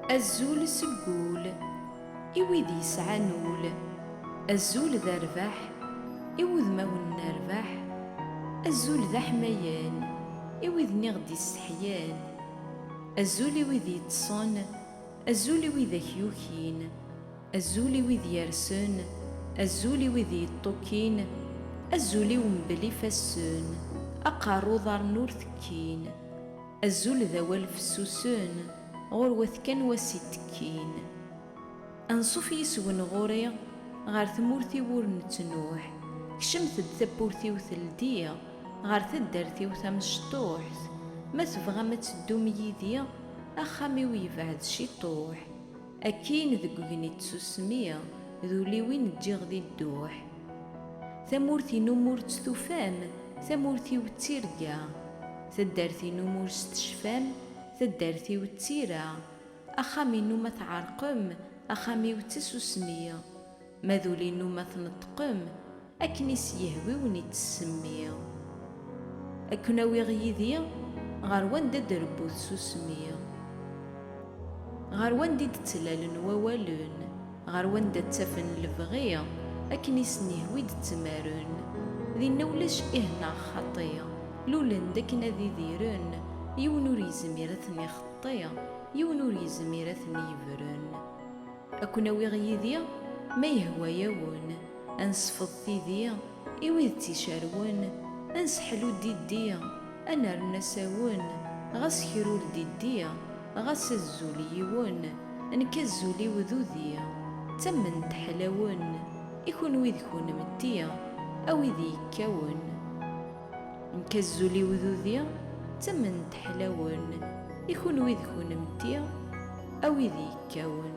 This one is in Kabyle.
Azul seg wul i wid yesɛan ul, azul d rrbeḥ i wudmawen n rrbeḥ, azul d aḥmayan i widen i ɣ-d-yesseḥyan, azul i wid yeṭṭṣen, azul i widak yukin. Azul i wid yersen, azul i wid yeṭṭukin, azul-iw mebel ifassen, aqerru uḍaren ur tekkin. Azul d awal fessusen, ɣur-wet kan wass itekkin. Anṣuf yis-wen ɣur-i, ɣer tmurt-iw ur nettnuḥ, kecmet-d tawwurt-iw teldi-ɣ, ɣer taddart-iw tamecṭuḥt, ma tebɣam ad teddum yid-i, axxam-iw yebɛed ciṭuḥ. Akkin deg ugenni d tsusmi, d ul-iw i n-ǧǧiɣ di dduḥ. Tamurt-inu m'ur tt-tufam, tamurt-iw d tirga. Taddart-inu m'ur s-tecfam, taddart-iw d tira. Axxam-inu ma tɛerqem, axxam-iw d tasusmi. Ma d ul-inu ma tneṭṭqem, akken i s-yehwi wen i tt-semmi. Ad ken-awiɣ yid-i ɣer wanda i d-rebbu tsusmi. Ɣer wanda i d-ttlalen wawalen, ɣer wanda ttafen lebɣi, akken i sen-yehwi d-ttmaren. Dinna ulac ih neɣ xaṭi, lulen-d akken ad idiren, yiwen ur yezmir ad ten-ixeṭṭi, yiwen ur yezmir ad ten-yebren. Ad ken-awiɣ yid-i ma yehwa-yawen, ad nesfeḍ tidi i wid tt-icerwen, ad nseḥlu diddi, ad nerren asawen, ɣas krul diddi, ɣas azul yiwen, nekk azul-iw d udi, d tamment ḥlawen, i kunwi d kunemti, a wid yekkawen. Nekk azul i wdudi d tament n teḥlawen i kunwi d kunemti a wid yekkawen.